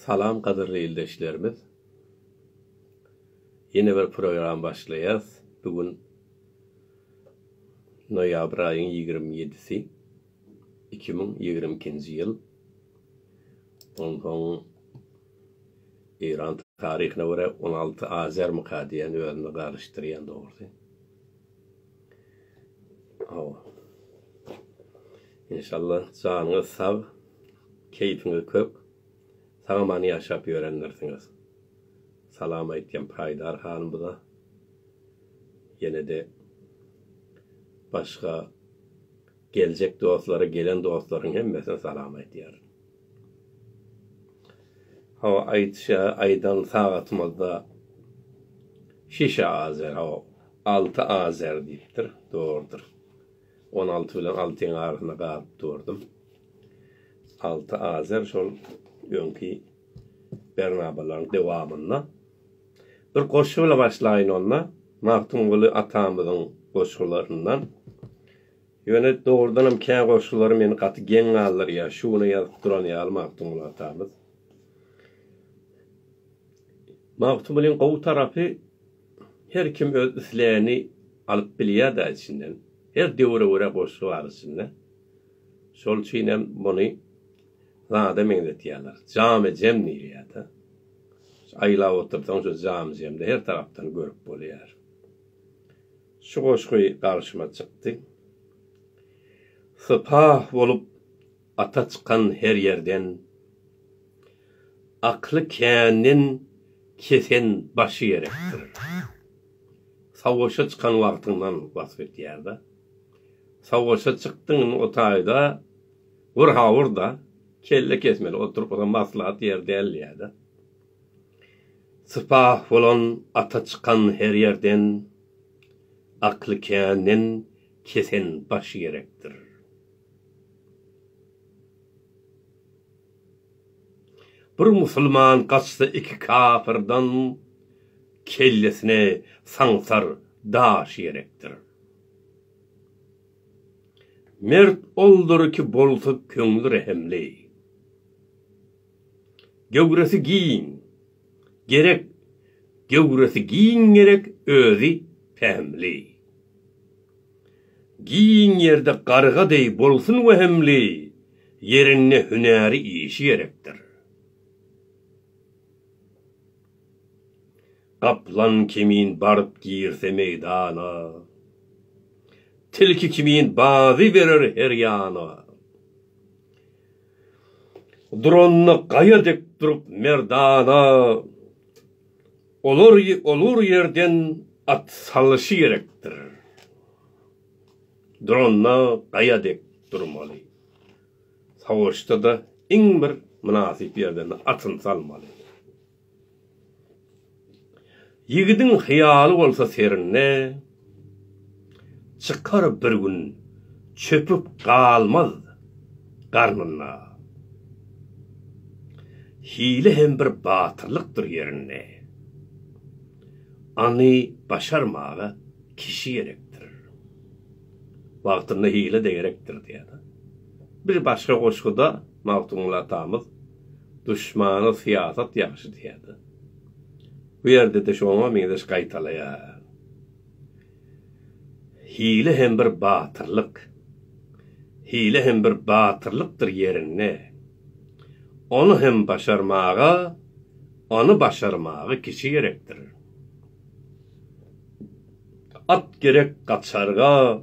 Salam gadyrly ildeşlerimiz. Ýene bir program başlaýas. Bu gün noýabr aýyň ýigrimi ýedisi, iki müň ýigrimi ikinji ýyl. Onsoň Eýran taryhyna görä on alty azermyka diýen özüni garyşdyrýan dogrusy. Inşallah janyňyz sag, keýpiňiz kök, sag-aman ýaşap ýörendirsiňiz. Salam aýtýan Paýdar hanymyza. Ýene-de başga Geljek dostlary gelen dostlaryň hemmesine salam aýdýar. Hawa aýdyşa aýdan sagatymyzda şişe azer hawa alty azer diýipdir dogrudyr. On alty bilen altyň arasynda galyp durdum. Alty azer şol öňki bernabalaryň dowamynda. Bir goşgy bilen başlaýyn onda. Magtymguly atamyzyň goşgularyndan. Ýöne dogrudanam kä goşgulary meni gaty geň galdyrýar, şu güne ýazyp duran ýaly Magtymguly atamyz. Magtymgulyň gowy tarapy her kim öz islegini alyp bilýär-dä içinden. Her döwre görä goşgy bar içinde. Şol üçin hem muny zada meňzetýärler. Jamy-jem diýilýär-dä. Aýlap otursaň şu jamy-jemde her tarapdan görüp bolýar. Şu goşgy garşyma çykdy. Sypah bolup ata çykan her ýerden, Akly känden kesen başy gerekdir. Sawwaşa çykan wagtyňdan wasp etýär-de. Sawwaşa çykdyň indi o taýda wyrha ur-da, kelle kesmeli oturyp maslahat ýeri däl diýýär-de. Sypah bolan ata çykan her ýerden, akly känden kesen baş gerekdir. Bir musulman gaçsa iki kapyrdan kellesine saňsar daş gerekdir. Mert oldur ki bolsa köňli rehimli. Göwresi giň gerek Göwresi giň gerek özi pähimli Giň ýerde garga deý bolsun wehimli Ýerinde hünäri işi gerekdir Gaplan kimin baryp girse meýdana Tilki kimin bazy berer her ýana Duranyna gaýa dek durup merdana olar olur ýerden at salyşy gerekdir. Duranyna gaýa dek durmaly. Savaşda-da iň bir mynasyp ýerden atyny salmaly. Ýigidiň hyýaly bolsa serinde, Çykar bir gün çöpük galmaz garnynda. Hile hem bir batyrlykdyr ýerinde, Any başarmaga kişi gerekdir. Wagtynda hile-de gerekdir diýýär-de. Bir başga goşguda. Magtymguly atamyz Duşmana syýasat ýagşy diýýärdi. Bu ýerde-de şoňa meňzeş gaýtalaýar. Hile hem bir batyrlyk. Hile hem bir batyrlykdyr ýerinde. Ony hem başarmaga, ony başarmaga kişi gerekdir. At gerek gaçarga.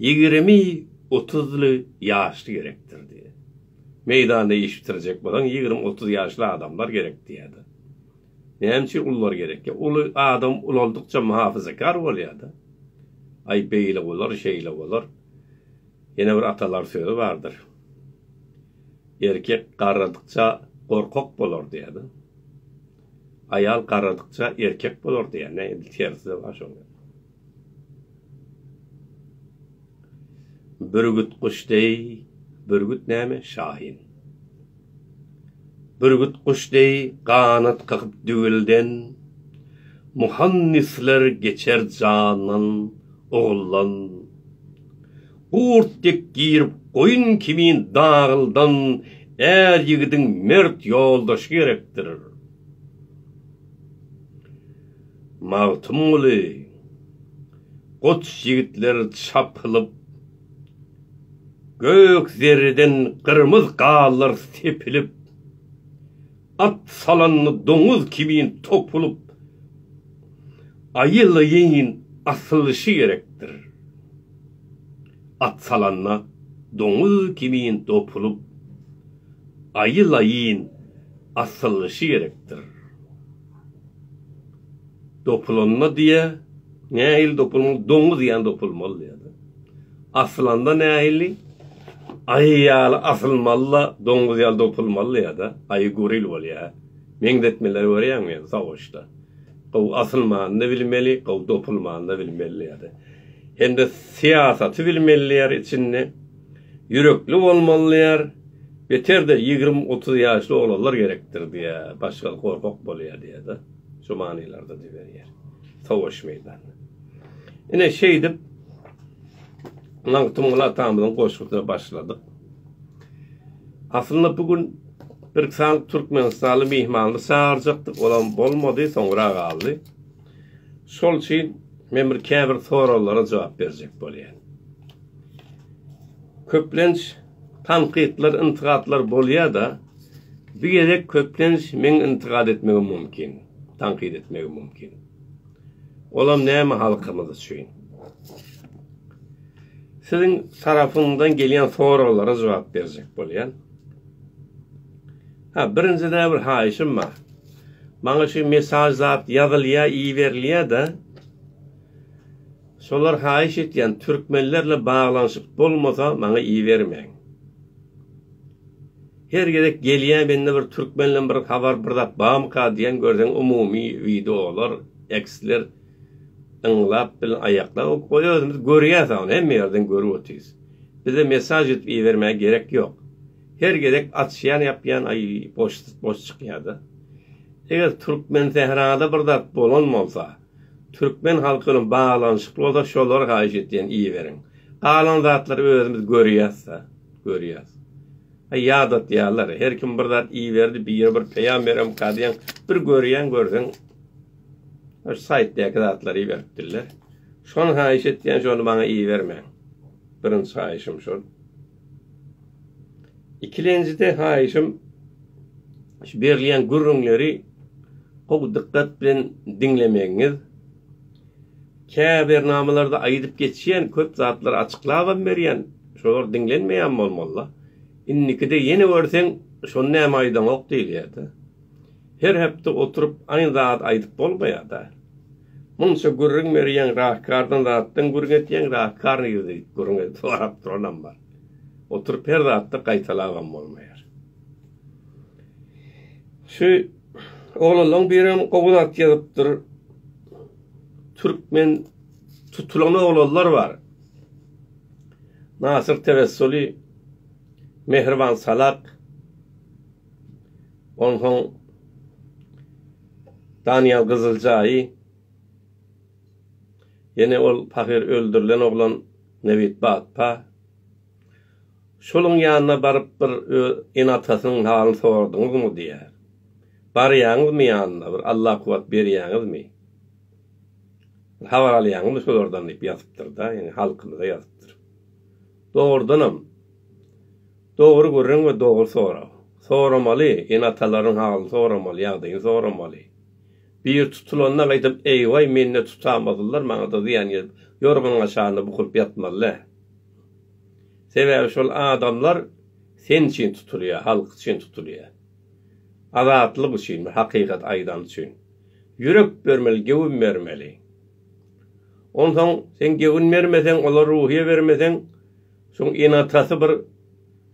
Ýigrimi, otuzly ýaşly gerekdir diýýär. Meýdanda iş bitirjek bolsaň, ýigrimi, otuz ýaşly adamlar gerek diýýär-de. Näme üçin ulylar gerek? Ýa uly adam ulaldykça muhafazakar bolýar-da. Aý, beýle bolar, şeýle bolar. Ýene bir atalar sözi bardyr. Erkek garradykça gorkak bolar diýýär-de. Aýal garradykça erkek bolar diýýär. Näme, terside bar şoň. Bürgüt guş deý, bürgüt näme, şahin. Bürgüt guş deý ganat kakyp düwülden, Muhandisler geçer jandan, oguldan. Gurt dek girip goýun kimin dagyldan Är ýigidiň mert ýoldaşy gerekdir. Magtymguly, Goç ýigitler çapylyp, Gök zerreden gyrmyz gallar sepilip, At salanda doňuz kimin topulyp, Aýylyýyn asylyşy gerekdir. At salanda doňuz kimin topulyp. aýylaýyn asyllyşy gerekdir. Dopulanda diýe, nähili dopulmaly, doňuz ýaly dopulmaly diýýärler. Asylanda nähili, aýy ýaly asylmaly-da, doňuz ýaly dopulmaly diýýär-de, aýy goril bolýar. Meňzetmeleri görýäňmi ýöne soguşda. Gowy asylmany-da bilmeli, gowy dopulmany-da bilmeli diýýär-de. Hem-de syýasaty bilmeli diýýär içinde. ýürekli bolmaly diýýär, beter-de ýigrimi-otuz ýaşly oglanlar gerekdir diýýär, başga gorkak bolýar diýýär-de, şu manylarda düzberýär, sowaş meýdanyna. Ine, şeýdip, Magtymguly atamyzyň goşgusyna başladyk. Aslynda bu gün birki sanyk türkmenistanly myhmanly çagyrjakdyk, olam bolmady, soňra galdy. Şol üçin men bir käbir soraglara jogap berjek bolýan. Köplenç tankytlar, yntygatlar bolýar-da, bu gezek köplenç meň yntygat etmegim mümkin, tankyt etmegim mümkin. Olam näme halkymyz üçin. Siziň tarapyňdan gelýän soraglara jogap berjek bolýan. Ha, birinjiden bir haýyşym bar. Maňa şu mesaj zat ýazylýar, iberilýär-de. Solar haýyş etýän türkmenlerle baglanyşyk bolmasa maňa ibermäň. Her gezek gelýä mende bir türkmenle bir habar bir zat bamyka diýen görseň umumy wideolar eksler yňlap bilen aýaklap goý özümiz görýäs ony hemme ýerden görüp otyrys. Bize mesaj edip ibermäge gerek ýok. Her gezek açýan ýapýan aý boş boş çykýada. Eger türkmensährada bir zat bolan bolsa. Türkmen halky bilen baglanyşykly bolsa şolara haýyş etýän iberiň. Galan zatlary özümiz görýäsda, görýäs. Aý ýadatýarlar, her kim bir zat iberdi, biri bir peýam beremka diýen, bir görýän görseň şu saýtdaky zatlary iberipdirler. Şony haýyş etýän şony maňa ibermäň. Birinji haýyşym şol. Ikilenjide haýyşym şu berilýän gürrüňleri gowy dykgat bilen diňlemegiňiz. Käbernamalarda aýdyp geçýän köp zatlary açyklabam berýän, şolar diňlenmeýän bolmalyda. Indikide ýene görseň şony näme aýdaňok diýilýärde. Her hepde oturyp aýn zat aýdyp bolmaýada. Munça gürrüň berýäň rahkardan zatdan gürrüň etýäň rahkar nirede diýip gürrüň edip sorap duranam bar. Oturyp her zatda gaýtalabam bolmaýar. Şu oglanlaň birem gowy zat ýazypdyr. Türkmen tutulan oglanlar bar. Nasyr Tewessuli, Mehriban Salak, Onsoň Daniýel Gyzyljaýy ýene ol pahyr öldürilen oglan Nebit Batpa şoluň ýanyna baryp bir öz ene-atasynyň halyny soradyňyzmy diýýär. Barýaňyzmy ýanyna bir Alla kuwwat berýäňizmi? Bir habar alýaňyzmy şolardan diýip ýazypdyr-da ýene halkymyza ýazypdyr. Dogrudanam. Dogry gürrüň we dogry sorag. Soramaly, ene-atalaryň halyny soramaly, ýagdaýyny soramaly. Biri tutulanda gaýtam eýwaý mende tutamazlylar, maňada zyýan gelip, ýorganyň aşagynda bukulyp ýatmaly-dä. Sebäbi şol adamlar sen üçin tutulýar, halk üçin tutulýar. Azatlyk üçin, bir hakykat aýdan üçin. Ýürek bermeli, gewin bermeli. Onsoň sen gewin bermeseň, olar ruhyýe bermeseň, Şoň ene-atasy bir,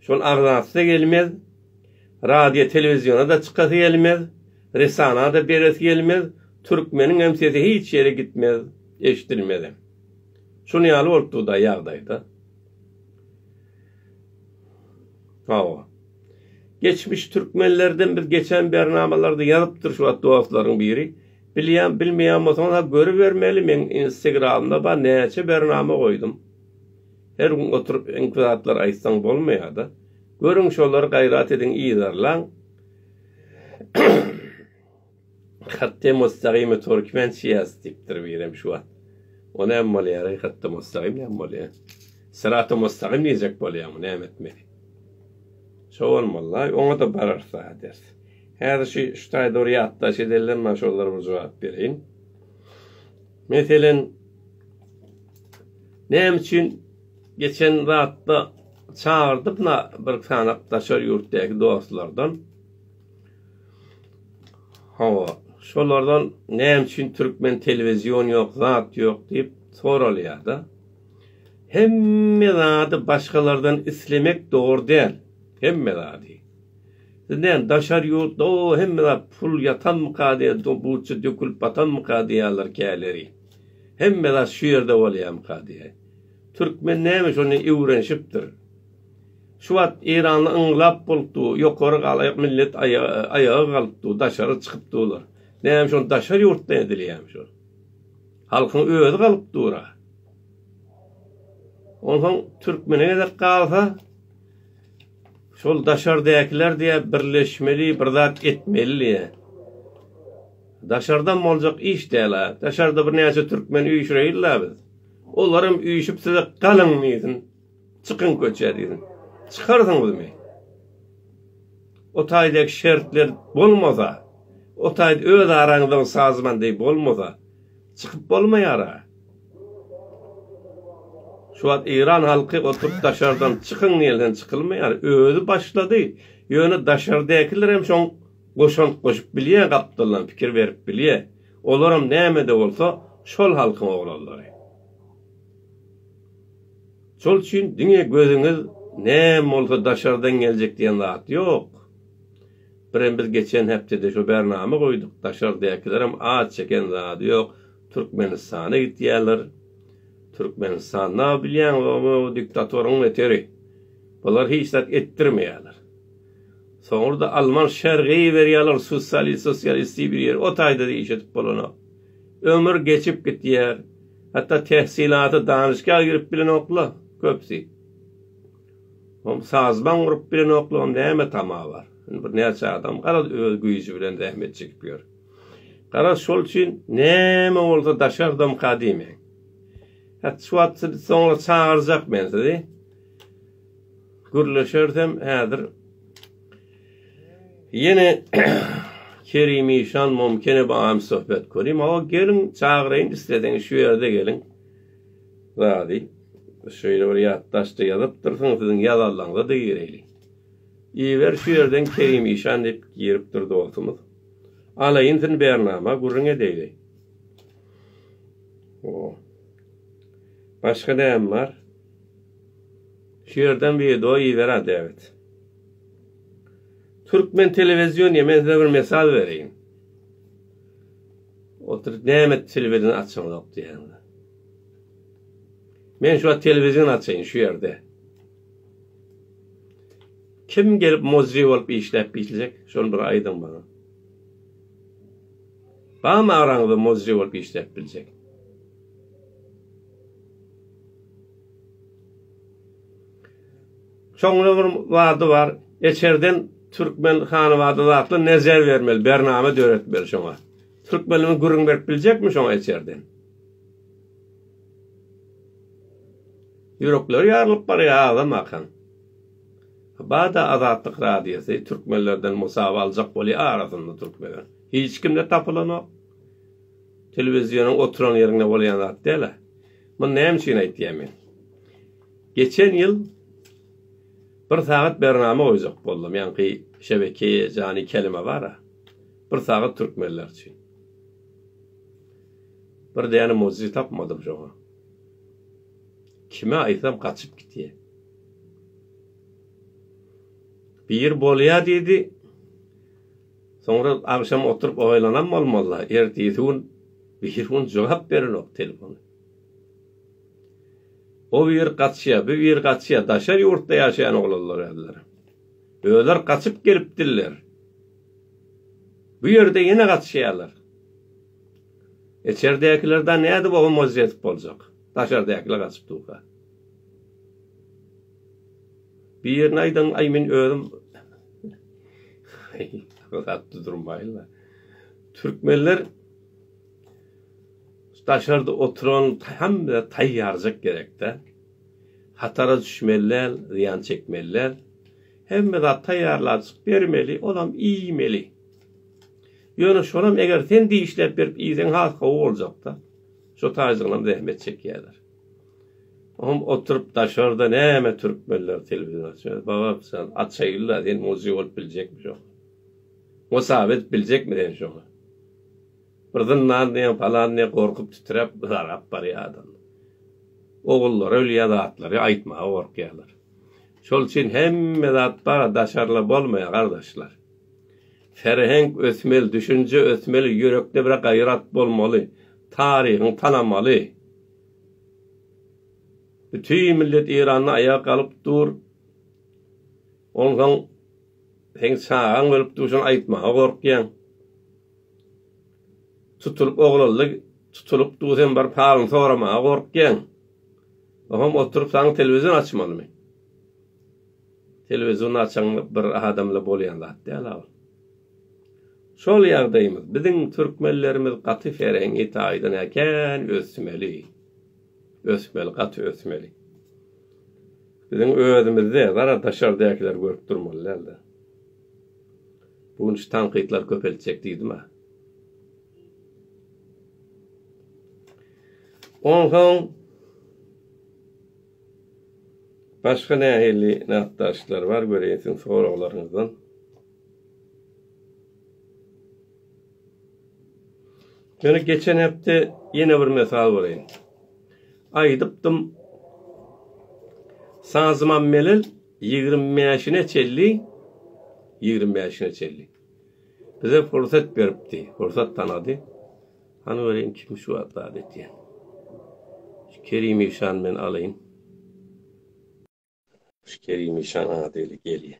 şol agzasy-da gelmez, radio-telewiziona-da çykasy gelmez, resana-da beresi gelmez, türkmeniňem sesi hiç ýere gitmez, eşidilmezem. Şuny ýaly bolup dur-da ýagdaý-da. Hawa. Geçmiş türkmenlerden biz geçen bernamalarda ýazypdyr şu wagt dostlaryň biri. Bilýän, bilmeýän bolsaňyz-ha görübermeli, meň Instagram-da bar, näçe bernama goýdum. Her gün oturyp öňki zatlary aýtsaň bolmaýada. Görüň şolary gaýrat ediň yzarlaň. Hatda Mustagime Türkmen çyýas diýipdir birem şu wagt. O näme bolýar eý hatda Mustagim näme bolýar. Syrata Mustagim diýjek bolýarmy näme etmeli. Şo bolmaly-laý oňa-da bararys a ders. Häzir şu şu taýda bir ýatlaş edelden maňa şolara bir jogap bereýin. Meselem, näme üçin geçen zatda çagyrdyk na bir sanap daşary ýurtdaky dostlardan. Hawa, şolardan näme üçin türkmen telewizion ýok, zat ýok diýip soralýar-da. Hemme zady başgalardan islemek dogry däl, hemme zady. Siz näme, daşary ýurtda o hemme zat pul ýatanmyka diýen, buçja dökülip batanmyka diýýärler käleri. Hemme zat şu ýerde bolýarmyka diýýär. Türkmen näme şony öwrenişipdir. Şu wagt Eýranda yňlap bolupdy, ýokary galaýak millet aýaga galypdy, daşary çykyp durlar. Näme şony daşary ýurtdan edilýärmi şu? Halkyň özi galyp dur-a. Onsoň türkmene gezek galsa, Şol daşardäkiler diýä birleşmeli bir zat etmeli diýä. Daşardan boljak iş däl-ä. Daşarda bir näçe türkmen üýşüreýin-la biz. Olaram üýşüp size galyň diýsin. Çykyň köçä diýsin. Çykarsyňyzmy? O taýdaky şertler bolmasa, o taýda öz araňyzda sazman deý bolmasa, Çykyp bolmaýara. Şu wagt Iran halky oturyp daşardan çykyň diýilsen çykylmaýar. Özi başlady. Ýöne daşardakiler hem şoň goşant goşup bilýä gapdaldan pikir berip bilýä. Olaram nämede bolsa şol halkyň oglanlary. Şol üçin diňe gözüňiz näme bolsa daşardan geljek diýen zat ýok. Birem biz geçen hepdede şo bernama goýduk daşardakilerem az çeken zady ýok türkmenistana gitýäler türkmenistanda bilýäňiz o diktatoryň neteri bular hiç zat etdirmeýäler soňrda alman şergi berýäler sussali sosialisti bir ýer o taýdada iş edip bolanok ömür geçip gitýär hatda tehsilaty danyşga girip bilenokla köpsi. Oň sazbaň urup bilenoklugyň näme tama bar? Indi bir näçe adam garaz öz güýji bilen zähmet çekip ýör. Garaz şol üçin näme bolsa daşardamka diýmäň. Hat şu wagt sizi soňra çagyrjak men sizi. Gürleşersem häzir Ýene Kerim işan mumkin ebam söhbet körim. Awa geliň çagyraýyn isleseňiz şu ýerde geliň. Zady şeýle bir ýatdaşda ýazypdyrsyň, siziň ýazanlaňyza-da gireýlik. Iýiber şu ýerden Kerim işan diýip giripdir dostumyz. Ala insin bernama, gürrüň edeýli. O. Başga näme bar? Şu ýerden wideo iýiber-ä Dewid. Türkmen telewizionyýa men size bir mesal bereýin. Oturyp näme telewizini açaňyzok diýýäňiz. Men şu wagt telewizion açaýyn şu ýerde. Kim gelip muzzy bolup işläp biljek şony bir aýdyň maňa. Barmy araňyzda muzzy bolup işläp biljek. Soňra bir wady bar. Eçerden türkmen hanybada zatly nezer bermeli, bernama döretmeli şoňa. Türkmenimi gürrüň berip biljekmi şoňa içerden? Ýürekleri ýarylyp barýar aglamakaň. Bada Azatlyk radiosy türkmenlerden musaba aljak bolýar arasynda türkmenler. Hiç kimde tapylanok. Telewizionuň oturan ýerinde bolýan zat däl-ä. Muny näme üçin aýtýan men? Geçen ýyl bir sagat bernama goýjak boldum. Ýaňky şebekeýe jany kelime bar-a. Bir sagat türkmenler üçin. Bir däne mucize tapmadym şoňa. Kime aýtsam gaçyp gitýär. Bir bolýar diýdi. Soňra agşam oturyp oýlanam bolmazlar. Ertesi gün bir gün jogap berenok telefon. O bir gaçýa, bu bir gaçýa, daşar ýurtda ýaşaýan oglanlar öýler. Öýler gaçyp gelip diller. Bu ýerde ýene gatyşýarlar. Içerdäkiler da nädip oňa moz ýetip boljak. Daşardakiler gatyp durka. Birini aýdaň, aý men özüm gatdy durmaýla. Türkmenler daşarda oturan hemme taýýarjak gerekde. Hatara düşmeliler, zyýan çekmeliler. Hemme zat taýýarlajyk, bermeli, olam iýmeli. Ýöne şonam eger sen dişläp berip iýseň has gowy boljakda. Şo taýjygynam zähmet çekýärler. Oňam oturyp daşarda näme türkmenler telewizor açýar. Babakjan, açaýyl-la, sen muzy bolup biljekmi şoňa? Mosabet biljekmi sen şoňa? Bir zyndan diýen palan diýip gorkup titräp zarap barýadym. Ogullary ölýä zatlary aýtmaga gorkýalar. Şol üçin hemme zat bar daşarla bolmaýa gardaşlar. Ferhenk ösmeli düşünje ösmeli ýürekde bir gaýrat bolmaly taryhyň tanamaly. Bütin millet Eýranda aýaga galyp dur. Onsoň seň çagaň ölüp dur şony aýtmaga gorkýaň. Tutulyp oglaldy tutulyp du sen baryp halyny soramaga gorkýaň ohomm oturyp saň telewizion açmalymy telewizion açaň bir adamla bolýan zat däl a ol şol ýagdaýymyz biziň türkmenlerimiz gaty ferengi taýdan hä kän ösmeli ösmeli gaty ösmeli biziň özümizde zara daşardakiler görüp durmaly däl de. Bu gün şu tankytlary köpeltjek diýdim-ä. Onsoň başga nähili nätdaşlar bar göreýin siziň soraglaryňyzdan. Ýöne geçen hepde ýene bir mesal bereýin. Aýdypdym, Sazyman Melel Ýigrimi bäşine çelli, ýigrimi bäşine çelli. Bize pursat beripdi, pursat tanady. Hany göreýin kim şu wagt zat etýän. Şu Kerim işany men alaýyn. Şu Kerim işan ady gelýär.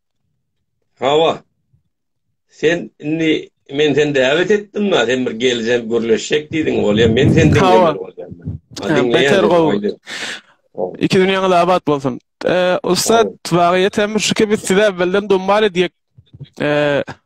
Hawa. Sen indi men seni däwet etdim-la, sen bir geljeň, gürleşjek diýdiň, bolýa, men seni diňlemeli bolýan. Hawa. Beter gowy. Iki dünýäňiz abat bolsun. Ussat, wagýat hem şuki, biz sizi äwwelden domal edýäk.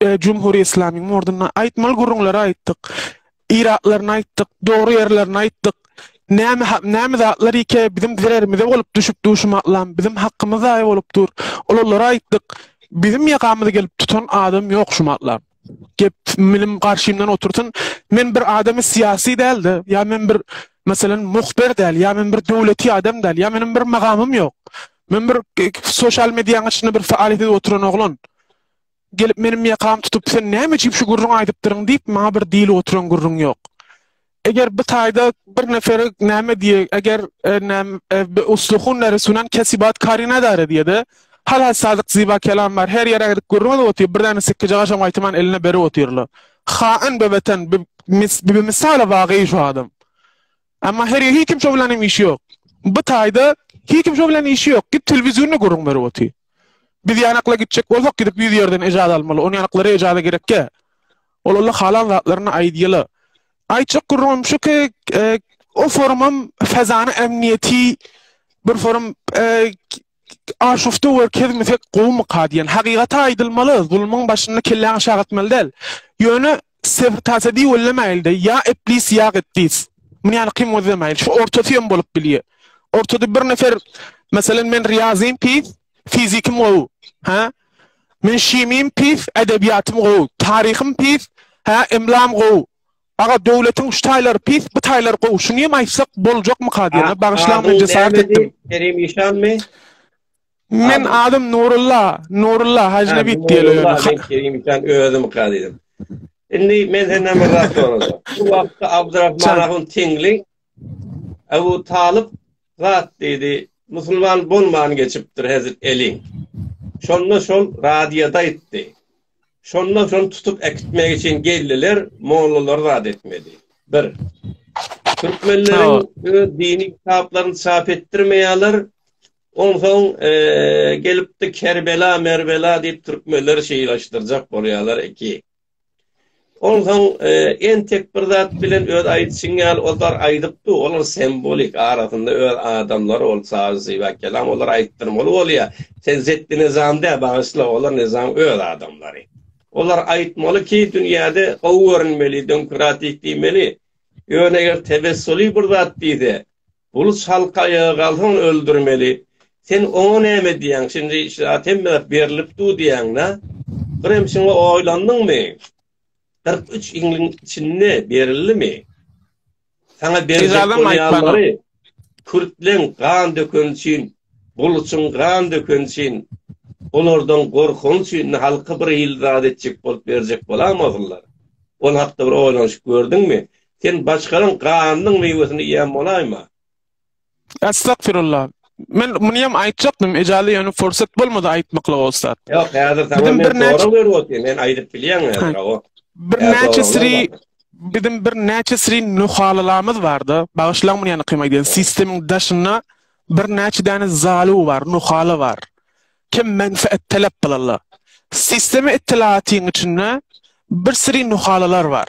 e, Cumhuri İslamiň orduna aýtmaly gürrüňleri aýtdyk. Iratlaryny aýtdyk, dogry ýerlerini aýtdyk. Näme näme zatlar ike bizim zererimize bolup düşüp duşum atlam, bizim hakkymyz zaýa bolup dur. Olara aýtdyk. Bizim ýakamyzy gelip tutan adam ýok şu matlam. Gep minim garşymdan otursyn. Men bir adamy syýasy däldi. Ýa men bir Mesela muhbir däl, ýa men bir döwleti adam däl, ýa meniň bir magamym ýok. Men bir sosial mediýanyň içinde bir faal edip oturan oglan. gelip meniň ýakamy tutup sen näme üçin şu gürrüňi aýdypdyryň diýip maňa bir diýlip oturan gürrüň ýok. Eger bu taýda bir nefere näme diýe, eger e, näm e, bi usluhun resunan kesibat karina dara diýede. Hal hal sadyk ziba kelam bar. Her ýere gidip gürrüň edip otyr. Bir däne sikki jaga şoň aýtman eline berip otyrlar. Hain be watan, bi misala wagýy şu adam. Amma herýe hiç kimse bilen hem işi ýok. Bu taýda hiç kimse bilen işi ýok. Git telewizorny gürrüň berip otyr. Biz ýanakla gitjek bolsak gidip ýüz ýerden ejaza almaly. On ýanaklara ejaza gerekkä? Ol Allah halan zatlaryny aýdýala. Aýtjak gürrüňim şu ki, e, o forumam fezany emniýeti bir forum e, Aşufta we kezmesek gowumyka diýen. Hakygaty aýdylmaly, zulumyň başyny kelläň aşak atmaly däl. Ýöne sebr tasa diwellemäýilde, ýa eplis ýa gepdis. Muny ýaly kyn gözlemäýil. Şu ortasy hem bolup bilýär. Ortada bir nefer Meselem men riýazym pis, fizikim gowy. Hä? Men şimim pis, edebiýatym gowy. Taryhym pis, hä, emlam gowy. Aga döwletiň şu taýlary pis bu taýlary gowy şuny hem aýtsak boljakmyka diýene bagyşlaň men jesaret etdim. Kerim işanmy? Men adym Nurulla, Nurulla Hajy Nebit diýýärler. Kerim işan özüm ka diýdim. Indi men senden bir zat sorajak. Bu wagtda Abdurrahman ahun Tingli Abu Talyp zat diýdi. Musulman bolman geçipdir hezir elin. Şonda şol radioda aýtdy. Şondan soň tutup äkitmek üçin geldiler, mollalary zat etmedi. Bir. Türkmenleriň öz dini kitaplaryny çap etdirmeýärler. Onsoň e, gelipdi Kerbela, Merbela diýip türkmenleri şeýlaşdyrjak bolýarlar iki. Onsoň entek bir zat bilen öz aýdyşyň ýaly ol zar aýdyp dur, olar sembolik, arasynda öz adamlary ol Sazy Zyba Kelam olar aýtdyrmaly bolýa, sen Zetdi Nizam dä bagyşla olar Nizam öz adamlary. Olar aýtmaly ki dünýäde gowy görünmeli, demokratik diýmeli. Ýöne eger tebessuly bir zat diýse, Uly çalyk aýaga galsaň öldürmeli. Sen oňa näme diýýäň? Şindi şu zat hemme zat berlip dur diýýäň-dä. Birem şuňa oýlandyňmy? Kyrk üç ýylyň içinde berildimi? Saňa berjek bolýanlary kürtleň gan dökeni üçin, buluçyň gan dökeni üçin, olardan gorkany üçin indi halka bir ýyl zat etjek bolup berjek bolarmy ozallar? Ol hakda bir oýlanyşyp gördüňmi? Sen başganyň ganynyň miwesini iýen bolaýma. Astagfirullah. Men muny hem aýtjakdym, ejaly ýöne pursat bolmady aýtmaklyga ussat. Ýok, häzir saňa men sorag berip otyryn, men aýdyp bilýän häzir, awa. Bir näçe siri biziň bir näçe siri nuhalylarymyz barda, bagyşlaň muny ýa-da kym aýdýan, sistemiň daşynda bir näçe däne zaly bar, nuhaly bar. Kim menfaat talap bilenler. Sistemi ittilatyň içinde bir siri nuhalylar bar.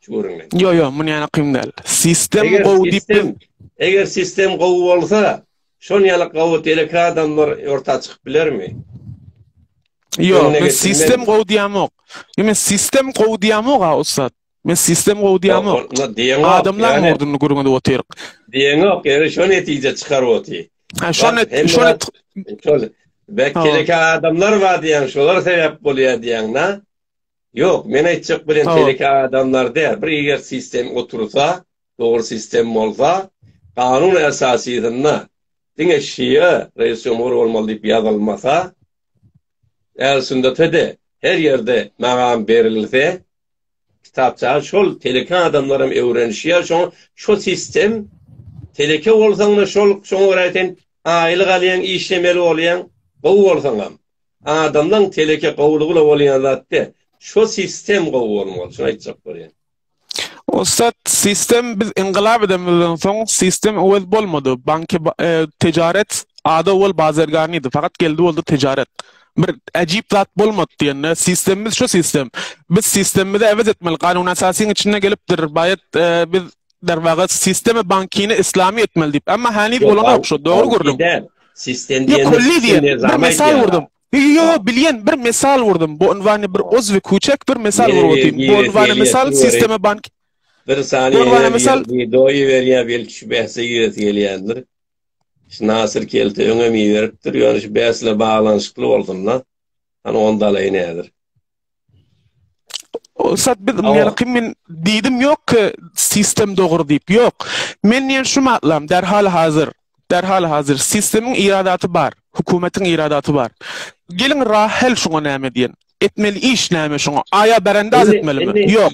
Şu görünme. Yo yo, mun yana kyn däl. Sistem gowy diýip biz. Eger sistem gowy bolsa, şon ýaly gowy teleki adamlar orta çykyp bilermi? Yo, men sistem gowy diýemok. Yo men sistem gowy diýemok ha ussat. Men sistem gowy diýemok. Adamlar murduny gürgünde otyryk. Diýemok, ýeri şon netije çykaryp otyr. Ha şon net, şon net. Şol. Bek teleki adamlar bar diýen, şolar sebäp bolýar diýen, na? Ýok, men aýtjak bilen teleke adamlar däl. Bir eger sistem otursa, dogry sistem bolsa, kanun esasysynda diňe şia reis jumhur bolmaly diýip ýazylmasa, ähli sünnete-de her ýerde magam berilse, kitapça şol teleke adamlar hem öwrenişýär, şoňa şu sistem teleke bolsaň-da şol, şoňa görä sen aýlyk alýaň, işlemeli bolýaň, gowy bolsaňam. Adamlaň teleke gowlugula bolýan zat de. Şo sistem gowy bolmaly, şuny aýtjak bolýan. Ussat, sistem biz yňgylap edemizden soň sistem öwez bolmady. Banki e, tejaret ada owal bazerganydy. Fakat geldi boldy tejaret. Bir ajip zat bolmadı diýende sistemimiz şu sistem. Biz sistemimizi äwez etmeli. Kanun asasyň içinde gelipdir. Bayat e, biz Derwaga sistema bankini islami etmeli diyip. Amma hany bolanok şu dogry gördüm. Sistem diýen kulli diýen bir mesal gördüm. Yo bilýän bir mesal gördüm. Bu unwany bir özwi küçek bir mesal gördüm. Bu unwany mesal sistema bank bir sany unwany mesal wideoýy berýär belki şu bähse ýös gelýändir. Şu Nasir Kelte öňe mi beripdir. Ýöne şu bäsle baglanyşykly bolsun da. Hani onda alaýyn häzir. Ussat biz men kim men diýdim ýok ki sistem dogry diýip. Ýok. Men diýen şu matlam derhal hazır. Derhal hazır. Sistemiň iradaty bar. Hökümetiň iradaty bar. Geliň rahel şuňa näme diýen. Etmeli iş näme şuňa. Aýa berende az etmelimi? Ýok.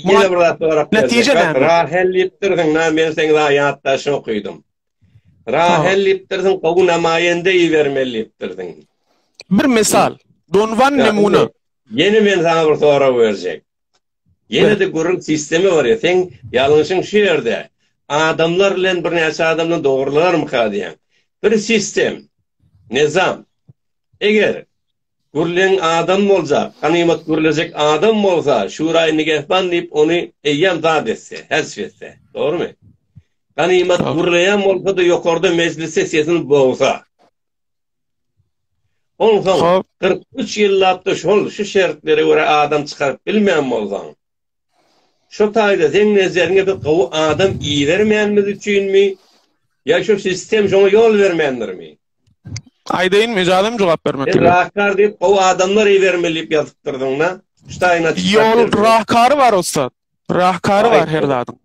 Netije näme? Rahel diýipdirsiň. Na men seň zaýat daşy okydym. Rahel diýipdirsiň. Gowy namaýende ibermeli diýipdirsiň. Bir misal. Donwan nemuna. Ýene men saňa bir sorag berjek. Ýene-de gürrüň sistemi bar ýa, seň ýalňyşyň şu ýerde. Adamlar bilen birnäçe adam bilen dogrulanarmyka diýýän. Bir sistem, nyzam. Eger gürleň adam boljak, ganymat gürlejek adam bolsa, şuraý nigehban diýip ony eýýäm zat etse, hezf etse. Dogrumy? Ganymat gürleýän bolsa-da ýokarda mejlisde sesini bogsa. Onsoň, kyrk üç ýyllap-da şol, şu şertlere görä adam çykaryp bilmän bolsaň, şu taýda seň nezeriňe biz gowy adam ibermänimiz üçinmi ýa şu sistem şoňa ýol bermändirmi? Aýdaýynmy, ijazam jogap bermek gerek. Rahkar diýip gowy adamlar ibermeli diýip ýazypdyrdyň-da. Şu taýyna çykyp. Ýol rahkary bar ussat. Rahkary bar her zadyň.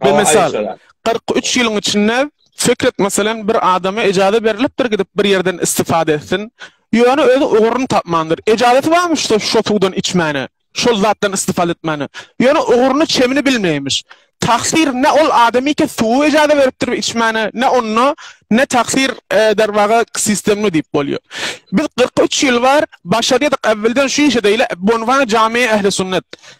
Bir misal, 43 ýylyň içinde Fikret meselem bir adama ejaza berilipdir gidip bir ýerden istifade etsin. Ýöne özi ugurun tapmandyr. Ejazaty barmy şu şu suwdan içmäne, şol zatdan istifade etmäne. Ýöne uguryny çemini bilmeýmiş. Taksir ne ol adamyka suwy ejaza beripdir içmäne, ne onda ne taksir e, derwaga sistemli diýip bolýar. Biz 43 ýyl bar başarýadyk äwwelden şu işe deýle Bonvan jami ähli sünnet.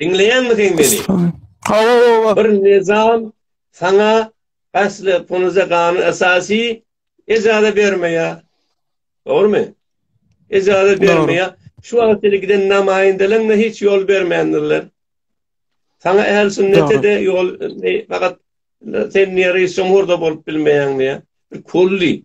Diňleýänmikin meni? Hawa, baba. Bir nizam saňa asly punuza gany esasy ejaza bermeýä. Dogrumy? Ejaza bermeýä. Şu wagt ile giden namaýyndalaryňa hiç ýol bermändirler. Saňa äl sünnete de ýol fakat sen nere şoňurda bolup bilmeýäň diýä. Bir kulli.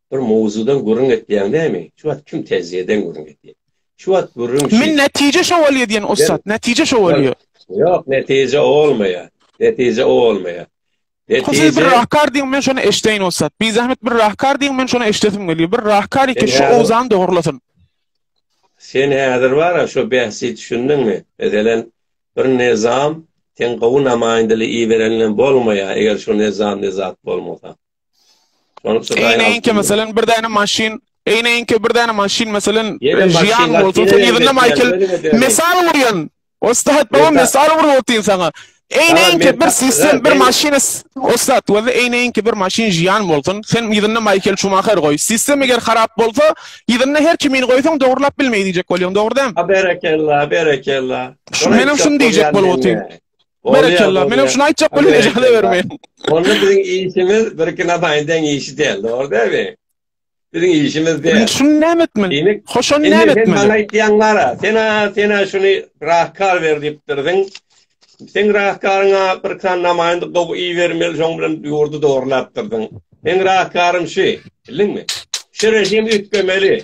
Bir mowzudan gürrüň etýäň näme? Şu wagt kim täjireden gürrüň etýär? Şu wagt gürrüň şu. Men nätije şo bolýa diýen ussat, nätije şo bolýa. Ýok, nätije o bolmaýa. Nätije o bolmaýa. Ho siz bir rahkar diýiň men şony eşdeýin ussat. Bizahmet bir rahkar diýiň men şony eşdesim gelýär. Bir rahkar eke şu owzany dogrulasyn. Sen häzir bara şo bähsi düşündiňmi? Meselen bir nizam sen gowy namaýyndyly iberenlen bolmaýa eger şo nizam nizat bolmasa. Şonuň üçin Eýne enke meselen bir däne maşyn, eýne enke bir däne maşyn meselen ýan bolsa, sen ýerinde Michael mesal urýan. Ostat baba mesal urup otyn sana. Eýne enke bir sistem, bir maşyn ostat we eýne enke bir maşyn ýan bolsun, sen ýerinde Michael Schumacher goý. Sistem eger harap bolsa, ýerinde her kimin goýsaň dogurlap bilmeý diýjek bolýaň, dogry dämi? Berekella, berekella. Meniň şuny diýjek bolup otyn. Berekella. Menem şuny aýtjak bolýan ejaza bermeýin. Onda biziň işimiz bir iki nasaýyn deň işi däl, dogry dälmi? Biziň işimiz däl. Indi şuny näme etmeli? Hoşan näme etmeli? Indi sen aýtýaň gara. Sen sena şuny rahkar ber diýipdirdiň. Sen rahkaryňa bir kan namaýyn gowy iý bermeli, şoň bilen ýurdy dogrulapdyrdyň. Sen rahkarym şu, bildiňmi? Şu režim üýtgemeli.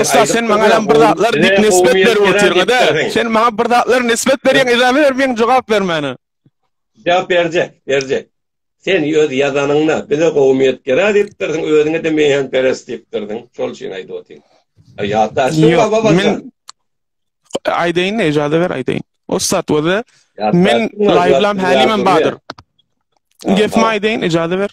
Ussat sen maňa ýan bir zatlar diýip nisbet berip otyrňyda. Sen maňa bir zatlar nisbet berýän edame ber meň jogap bermäne. Jogap berje, berje. Sen öz ýazanyňda bize gowumyýet gerä diýipdirdiň, özüňe de meýan peres diýipdirdiň. Şol üçin aýdyp otyryn. Ýatda şu baba baba. Men aýdaýyn, ejada ber aýdaýyn. Ussat bolsa men laýblam hälimem bardyr. Gepmi aýdaýyn, ejada ber.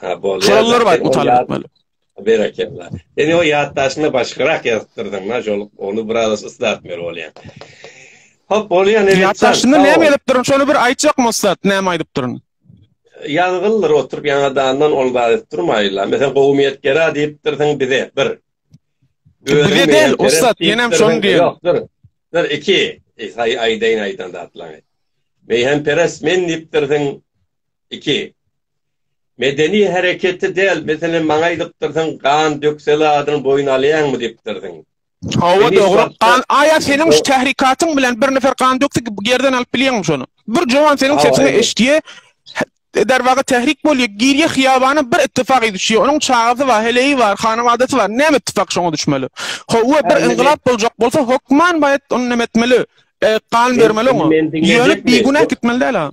Ha, bol. Sorallar bar, utal etmeli. Berekella. Sen o ýatdaşyny başgarak ýazypdyrdyň, na şol, onu biraz yslatmaly bolýar. Hop, bolýar, ne Ýatdaşyny näme ýazypdyryn, şony bir aýtjak maslahat, näme aýdypdyryn? Ýazgyldyr oturyp ýaňadandan ol zat edip durmaýla. Meselem, gowumyýet gera diýipdirsiň bize, bir. Bize del, ussat, menem şony diýen. Ýokdur. Bir, iki. Eý, aýdaýyn aýdan zatlaňy. Meýhemperes men diýipdirsiň, Iki. Medeni hereketi däl, meselem, maňa aýdypdyrsyň, gan dökseli adyny boýun alýaňmy diýipdirsiň. Hawa, dogry. Gan, aýa seniň şu tährikatyň bilen bir nefer gan dökse, ýerden alyp bilýäňmi şony? Bir jowan seniň sesiňi eşitýä, derwaga tährik bolýa, girýä hyýabana, bir ittifak düşýä. Onuň çagasy bar, heleýi bar, hanawadasy bar. Näme ittifak şoňa düşmeli? Hawa, bir yngylap boljak bolsa, hökman baýat ony näme etmeli? Gan bermeli oňa. Ýöne bigünä gitmeli däl-a.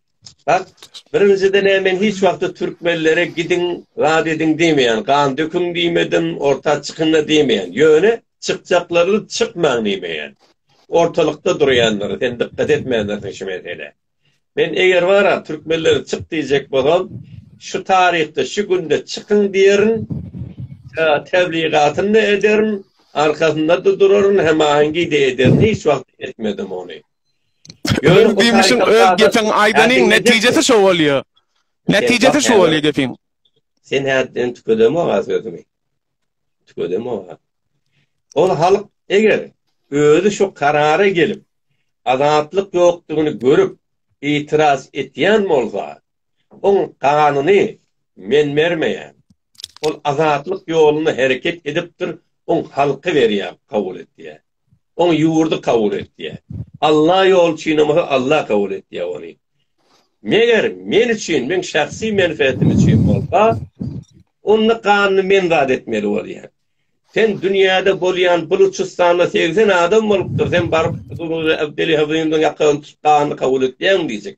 Bak, birinjiden näme men hiç wagtda türkmenlere gidiň, zat ediň diýmeýän, gan döküň diýmedim, orta çykyň-a diýmeýän. Ýöne çykjaklaryny çykmaň diýmeýän. Ortalykda durýandyr, sen dykgat etmändirsiň şu meselä. Men eger bara türkmenlere çyk diýjek bolsam, şu taryhda, şu günde çykyň diýerin, tebligatyny-da ederin, arkasynda-da duraryn, hemahengi-de ederin, hiç wagt etmedim ony. Öz gümüşüň öz gepiň aýdanyň netijesi şo bolýar. Netijesi şo bolýar gepiň. Sen häzirden tükedem oga sözümi. Tükedem oga. Ol halk eger özi şu karara gelip, azatlyk ýokdugyny görüp, itiraz etýän bolsa, oň ganyny men bermeýän. Ol azatlyk ýolunda hereket edipdir, oň halky berýär, kabul etýär. Oň ýurdy kabul etýär. Alla ýoly üçinem bolsa Alla kabul etýär ony. Meger men üçin, meň şahsy menfeatim üçin bolsa, onda ganyny men zat etmeli bolýar. Sen dünýäde bolýan Buluçystanda segsen adam bolupdyr, sen baryp Abdeli Hazyndan ýakasyny tutup ganyny kabul etýäň diýjek.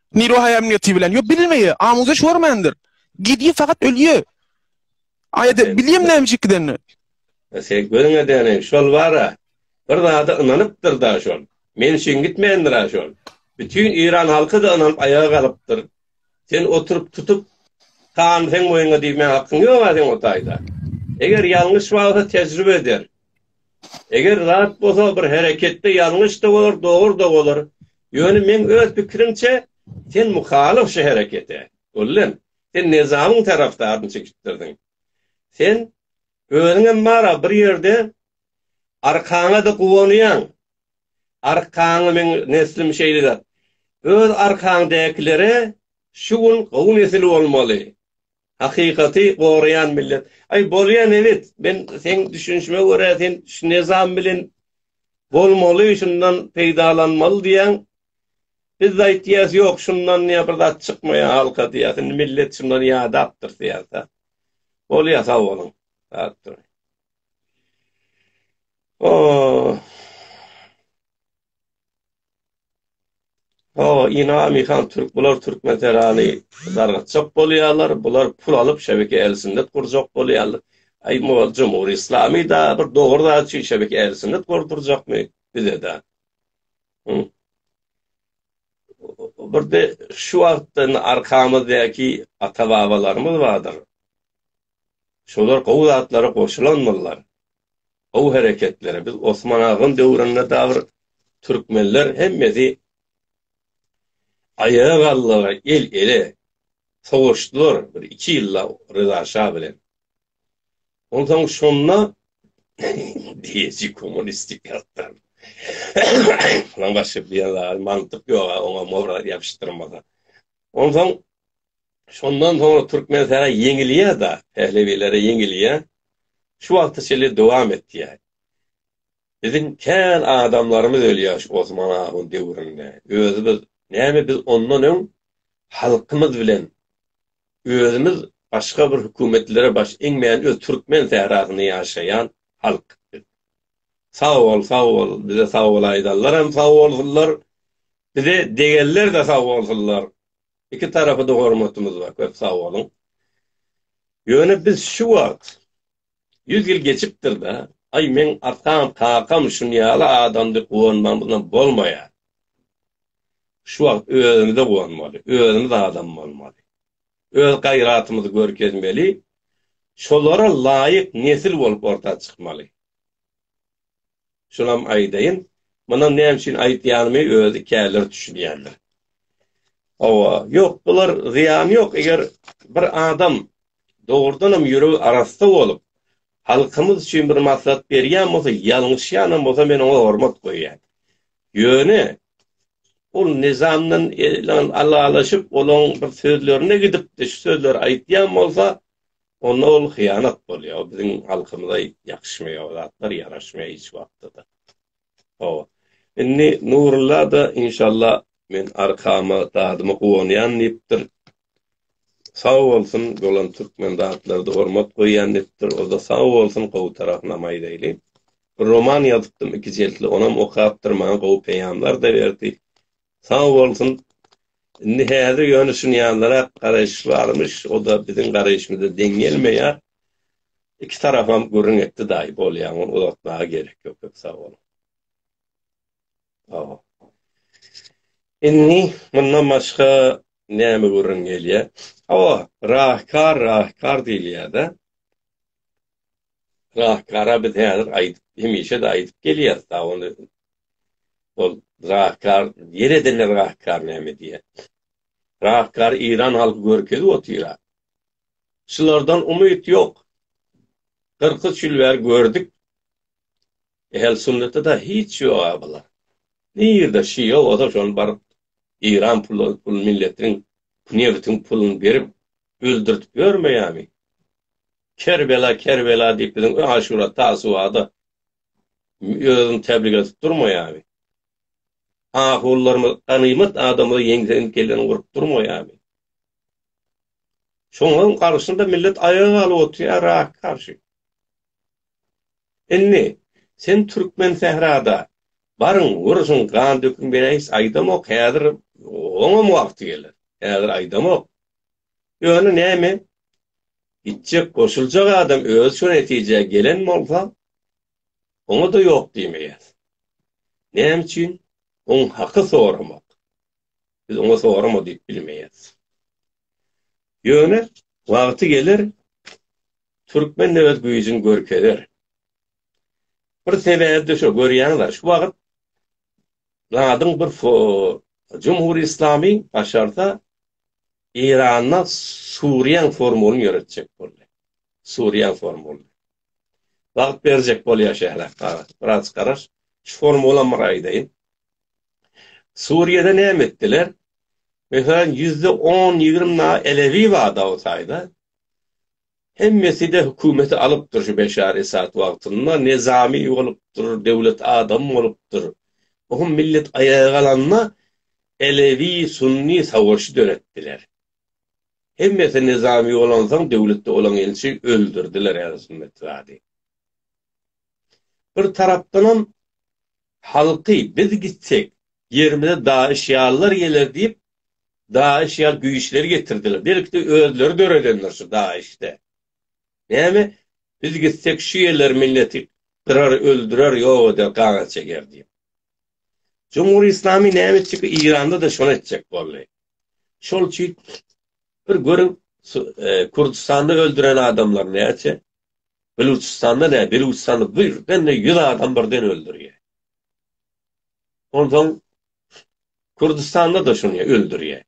Niro haýam neti bilen. Yo bilmeýe, amuza şormandyr. Gidýe fakat ölýe. Aýda bilýem näme çekdeni. Sen gözün edeni şol bara. Bir zada ynanypdyr da şol. Men şin gitmändir a şol. Bütün İran halky da ynanyp aýaga galypdyr. Sen oturup tutup kan sen boýuna diýmä hakyň ýok a sen o taýda. Eger ýalňyş wagta tejribe eder. Eger zat bolsa bir hereketde ýalňyş-da bolar, dogur-da bolar. Ýöne meň öz pikirimçe, sen muhalyf şu herekete. Gullem, sen Nyzamyň tarapdaryny çekişdirdiň. Sen özüňem bar-a bir ýerde, arkaňa-da guwanýaň. Arkaňy meň neslim şeýle zat. Öz arkaňdäkilere şu gün gowy nesil bolmaly. Hakykaty goraýan millet. Aý bolýa nebit men seň düşünişime görä sen şu nizam bilen bolmaly şundan peýdalanmaly diýýäň. Biz aýtýas ýok şundan ýa bir zat çykmaýa halka diýýas indi millet şundan ýadapdyr syýasat. Bolýa sag boluň. Sag duruň. Ohh. Hawa, Inami han türk, bular türkmen serany dargatjak bolýarlar, bular pul alyp şebeke ählsünnet gurjak bolýarlar. Aý mugal jumhuri islamy da bir dogry zat üçin şebeke ählsünnet gurdurjakmy bizeda? Hü. Birde şu wagtda arkamyzdaky ata-babalarymyz bardyr. Şolar gowy zatlara goşulanmyrlar. Gowy hereketleri biz Osman agam döwründe da bir türkmenler hemmesi aýaga galdylar el ele sowaşdylar bir iki ýylda Ryza şa bilen. Onsoň şonda diýeji kommunistik ýatdan. Lan başga bir ýere mantyk ýoga oňa mora ýapyşdyrmaga. Onsoň Şondan soňra türkmen sähel ýeňilýär-de, pählewilere ýeňilýär. Şu wagta çenli dowam etýär. Biziň kän adamlarymyz ölýär şu Osman ahun döwründe. Özi biz, näme biz ondan öň halkymyz bilen özümiz başga bir hökümetlere baş eňmän öz türkmen sährasynda ýaşaýan halk biz. Sag bol, sag bol, bize sag bol aýdanlaram sag bolsunlar, bize degenler-de sag bolsunlar. Iki tarapa-da hormatymyz bar, köp sag boluň. Ýöne biz şu wagt, ýüz ýyl geçipdir-de, aý meň atam, kakam şun ýaly adam diýip guwanmagymyzam bolmaýar. Şu wagt özümize guwanmaly, özümiz adam bolmaly. Öz gaýratymyzy görkezmeli, şolara laýyk nesil bolup orta çykmaly. Şunam aýdaýyn, muny näme üçin aýdýanymy özi käleri düşünýändir. Hawa, ýok, bular zyýany ýok, eger bir adam dogrudan hem ýüregi arassa bolup, halkymyz üçin bir maslahat berýän bolsa, ýalňyşýan hem bolsa men oňa hormat goýýan. Ýöne ol Nizamdan alalaşyp, olaň bir sözlerine gidip, şu sözleri aýdýan bolsa, Onda ol hyýanat bolýar. Ol biziň halkymyza ýakşmaýar, zatlar ýaraşmaýar hiç wagtda-da. Hawa. Indi Nurulla-da inşallah men arkama, dadyma guwanýan diýipdir. Sag bolsun, dolan türkmen zatlarda hormat goýýan diýipdir. O-da sag bolsun, gowy tarapynam aýdaýly. Bir roman ýazypdym iki jiltli, onam okapdyr, maňa gowy peýamlar-da berdi. Sag bolsun. Indi häzir ýöne şuny ýanlarak garaýyş barmyş, o-da biziň garaýyşymyza deň gelmeýär. Iki tarapam gürrüň etdi daýy, bolýar, ony uzaltmaga gerek ýok, köp sag boluň. Hawa. Indi mundan başga näme gürrüň gelýär? Hawa, rahykar, rahykar diýilýär-dä. Rahgara biz häzir aýdyp, hemişe-de aýdyp gelýäris, ha ony ol rahgar, ýer edenler rahgary näme diýýär? Rahgary Eýran halky görkezip otyr-a. Şulardan umyt ýok. Kyrk üç ýyl bäri gördük. Ähli sünnetde-de hiç ýog-a bular. Nirde şia bolsa şony baryp Eýran pul milletiniň nebitiň puluny berip öldürtip ýörmeýärmi? Kerbela, Kerbela diýip biziň öň Aşura, Tasuada özüni täbrik edip durmaýarmy? Ahulylarymyz ganymat adamyny ýeňsegiň kelleni urup durmaýarmy? Şoňaň garşynda millet aýaga galyp oturýar Yrak garşy. Indi sen türkmen sährada baryň, uruşyň, gan döküň men eýs aýdamok, häzir oňam wagty geler. Häzir aýdamok. Ýöne näme, gitjek, goşuljak adam özi şu netijä gelen bolsa, oňa-da ýok diýmeýäs. Näme üçin? Oň haky soramak. Biz oňa sorama diýip bilmeýäs. Ýöne wagty geler, türkmen de öz güýjüni görkezer. Bir sebäbi-de şo, görýäňizler, şu wagt zadyň bir Jumhur Islamy başarsa Eýranda Suriýaň formulyny ýöretjek boldy. Suriýaň formulyny. Wagt berjek bolýar şeýle biraz garaş. Şu formulany bir aýdaýyn. Suriýada näme etdiler? Meselem, ýüzde on, ýigrimi na elewi bar Dawutaýda. Hemmeside hökümeti alypdyr şu Beşar Esad wagtynda nezami bolupdyr döwlet adam bolupdyr ohm millet aýaga galanda elewi sunni savaşy döretdiler hemmesi nezami bolansoň döwletde bolan ilçi öldürdiler ähli sunnet zady bir tarapdanam halky biz gitsek ýerimize daýyş ýallar geler diýip DAIŞ ýaly güýçleri getirdiler. Belki-de özleri döredendir şu DAIŞ-de. Näme, biz gitsek şu ýerler milleti gyrar, öldürer, ýok eder, gana çeker diýip. Jumhur Islami näme etjek? Eýranda-da şony etjek boldy. Şol üçin bir görüň, e, Kurdistanda öldüren adamlar näçe? Belüçistanda ne? Belüçistanda birden-de 100 adam birden öldürýär. Onsoň Kürdüstanda-da şuny öldürýär.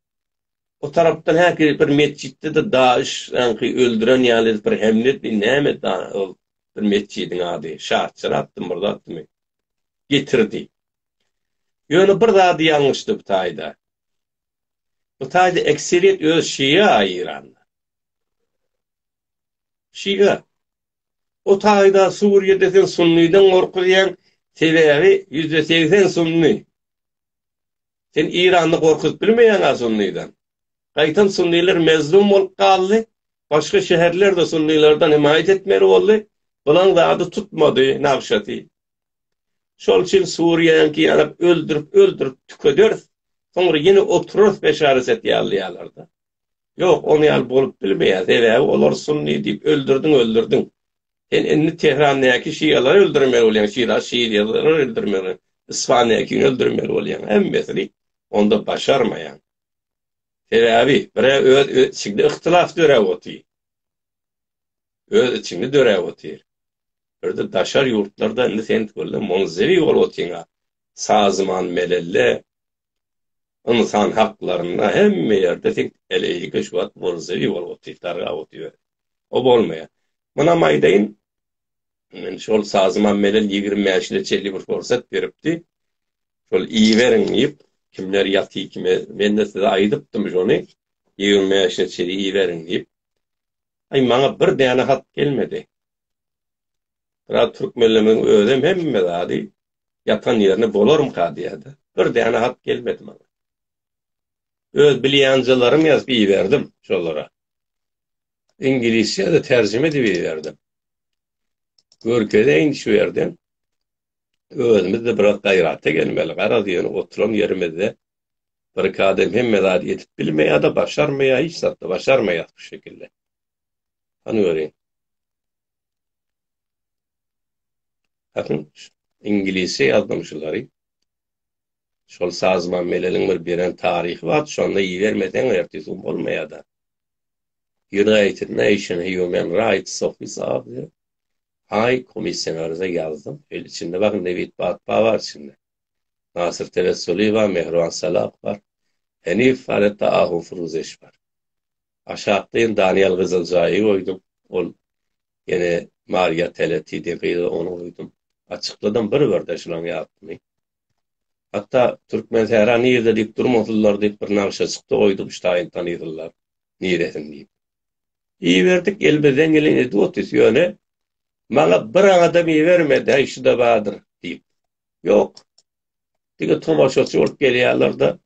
O tarapdan häki bir metjitde-de DAIŞ sanki öldüren ýaly edip bir hemle etdi, näme etdi ol bir metjidiň ady, Şaçyrakdymy, bir zatdymy, getirdi. Ýöne bir zady ýalňyşdy bu taýda. Bu taýda ekseriýet özi şia Eýranda. Şia. Bu taýda Suriýada sen sunnydan gorkuzýaň, sebäbi ýüzde segsen sunny. Sen Iranda gorkuzyp bilmeýäň-ä sunnydan. Gaýtam sunnylar mezlum bolup galdy, başga şäherler-de sunnylardan hemaýat etmeli boldy, bulan zady tutmady, nagşaty. Şol üçin Suriýaňky ýaly öldürip-öldürip tükederis, soňra ýene oturarys Beşar Esed ýaly ýalarda. Ýok, ony ýaly bolup bilmeýär, sebäbi olar sunny diýip öldürdiň öldürdiň. Sen indi Tehrandäki şialary öldürmeli bolýaň, şira şialary öldürmeli, Isfandäkini öldürmeli bolýaň, hemmesini onda başarmaýaň. Sebäbi bire öz içinde yhtylas döräp otyr. Öz içinde döräp otyr. Birde daşary ýurtlarda indi sen tüweleme munzewi bolup otyňa, sazman melelle Ynsan haklarynda hemme ýerde teň eleýike şu wagt burjuý bolup otyr darga otyr ber. O bolmaýar. Munam aýdaýyn men şol sazymam menen ýigrimi bäş ýyla çenli bir pursat beripdi. Şol iýiberiň diýip kimler ýaty kime mende size aýdypdym şony ýigrimi bäş ýyla çenli iýiberiň diýip. Aý maňa bir däne hat gelmedi. Biraz türkmenlemegiň özem hemme zady ýatan ýerine bolarmyka diýýärdi. Bir däne hat gelmedi maňa. Öz bilýänjalarymy ýazyp iberdim şolara. Iňlisçe-de terjime edip iberdim. Görkezeýin şu ýerden. Özümiz-de biraz gaýrata gelmeli. Garaz ýöne oturan ýerimizde birki adam hemme zady edip bilmeýär-de, başarmaýar, hiç zat-da başarmaýarys bu şekilde. Hany görüň. Bakyn, iňlisçe ýazdym şulary. Şol Sazman Meleliň bir beren taryhy bar, şonda ibermeseň ertesi gün bolmaýada. United Nation Human Rights Office atly Haý komissionerize ýazdym. Şeýle içinde bakyn nebit batba bar içinde. Nasyr Tewessuly bar, Mehriban Salah bar. Henif bar, hetda Ahu Furuzeş bar. Aşakdaýyn Daniýel Gyzyljaýy goýdum. Ol ýene Mariýa Teleti diýen gyzy ony goýdum. Açykladym bir-birden şularyň ýarysyny. Hatda Türkmensähra nirede diýip durmasyzlar diýip bir nagşaçykda goýdum ştaýyn tanysylar niresin diýip. Iberdik elimizden geleni edip otyrys ýöne maňa bir adam ibermedi häý şuda badyr diýip. Ýok. Diňe tomaşaçy bolup gelýärler-de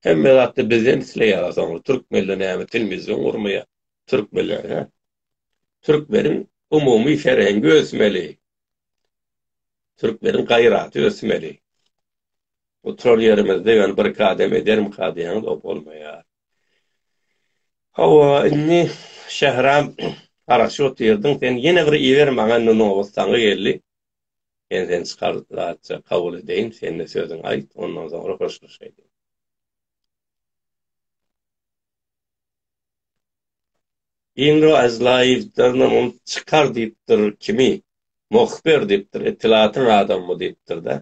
Hemme zatda bizden isleýärler soňra türkmenler näme telmizyon gurmaýar türkmenler he. Türkmeniň umumy ferengi ösmeli. Türkmeniň gaýraty ösmeli. Oturan ýerimizde ýöne bir kadem ederim kadýaňyz o bolmaýar. Hawa indi Şähram garaşyp otyrdyň sen ýene bir iber maňa indi nobat saňa geldi. Men seni çykaryjyça kabul edeýin, sen-de sözüňi aýt, ondan soňra hoşlaşaýlyň. Inro Azlaýewdernam ol çykar diýipdir, kimi? Muhbir diýipdir, etlaatyň adamymy diýipdir-dä.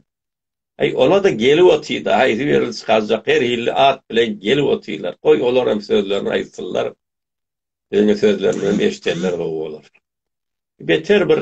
Aý, ola-da gelip otyr-da, haýsy biri çykarjak, her hilli at bilen gelip otyrlar. Goý, olar hem sözlerini aýtsynlar, biziň sözlerimizem eşidenler gowy bolar. Beter bir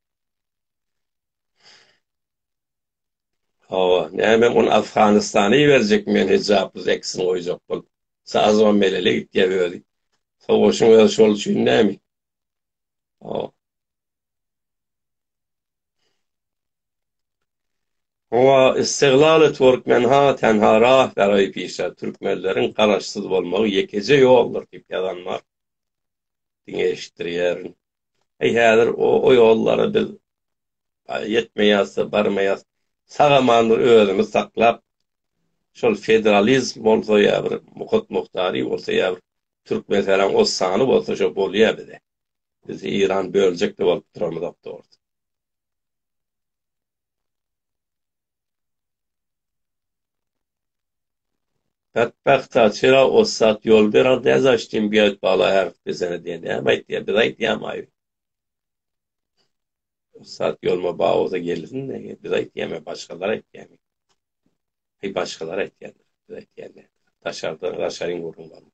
Hawa, näme ony Afganistana iberjekmi men hijapsyz eksini goýjak bolup. Sazybam melele gitýär özi. Sowaşyň özi şol üçin näme? Hawa. Hawa, istiglal et Türkmenha tenha rah beraý pişa Türkmenleriň garaşsyz bolmagy ýekeje ýoldur diýip ýazan bar. Diňe eşitdirýärin. Heý häzir o ýollara biz ýetmeýäs-de, barmaýas. Sag-aman bir özümiz saklap, şol federalizm bolsa ýa bir Muhit Muhtary bolsa ýa bir Türkmenistanyň o sany bolsa şo bolýa bize. Biz Eýran böljek-de bolup duramyzok dogrusu. Betbagta çyra ussat ýol berer däz açdym gök bala her desene diýen näme aýtýa biz aýtýamaý ussat ýoluma ba bolsa gelsin biz aýtýamy başgalar aýtýamy heý başgalar aýtýar biz aýtýamy daşardan daşaryň gürrüň bar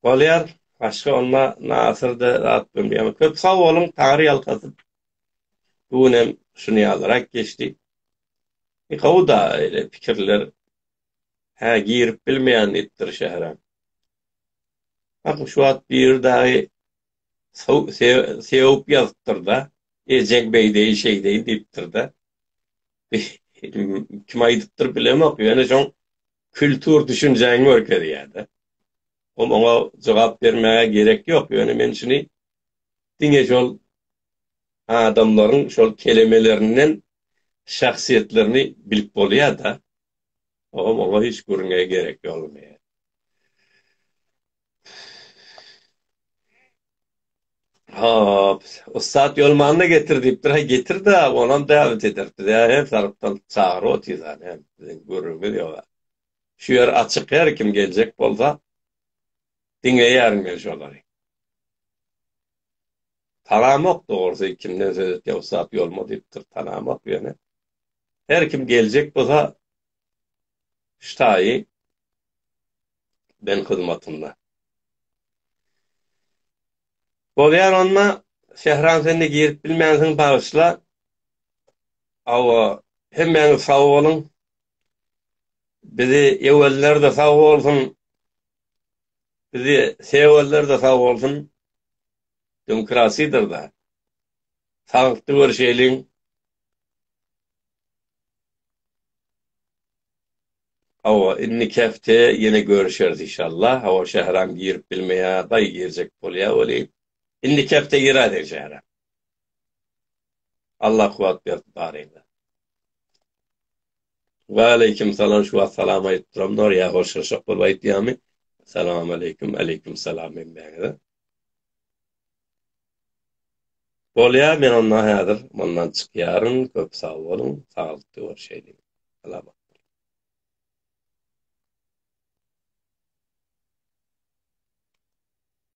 Bolýar. Başga onda nasyrdy zat bilmeýän. Köp sag boluň Taňry ýalkasyn. Bu gün hem şuny ýalyrak geçdi. E gowy da eýle pikirler. Hä girip bilmeýän diýipdir şähere. Bak şu wagt biri dagy sewup ýazypdyrda. Ejeň beýdeýin şeýdeýin diýipdirda. Kim aýdypdyr bilemok ýöne şoň kültur düşünjäňi görkezýär-de. Ol oňa jogap bermäge gerek ýok, ýöne men şuny diňe şol adamlaryň şol kelemelerinden şahsyýetlerini bilip bolýar-da. Ogam oňa hiç gürrüňe gerek ýolmaýar. Hop, ussat ýolmanyny getir diýipdir. Haý getir-de, onam däwet ederis. Biz her tarapdan çagyryp otyrys hany, biziň gürrüňimiz ýok-a. Şu ýer açyk, her kim geljek bolsa, diňleýärin men şolary. Tanamok dogrusy, kimden söz etýär ussat ýolma diýipdir, tanamok ýöne. Her kim geljek bolsa, ştaýy ben hyzmatynda. Bolýar onda Sähran sen de girip bilmänsiň bagyşla. Awa hemmäňiz sag boluň. Bizi eweller de sag bolsun. Bizi seweller de sag bolsun. Demokrasiýadyr da. Sagykdy görşeýliň. Hawa, indiki hepde ýene görüşeris işallah. Hawa, Şähram girip bilmeýär, baý girjek bolýar welin, indiki hepde girer sen Şähram. Allah kuwwat bersin baryňyza. Waleýkim salam şu wagt salam aýdyp duramdylar ýa hoşlaşak bolup aýdýamy? Salamaleýkim, aleýkim salam hemmäňize. Bolýar men onda häzir mundan çykýaryn köp sag boluň saglykda görşeýliň Alabat.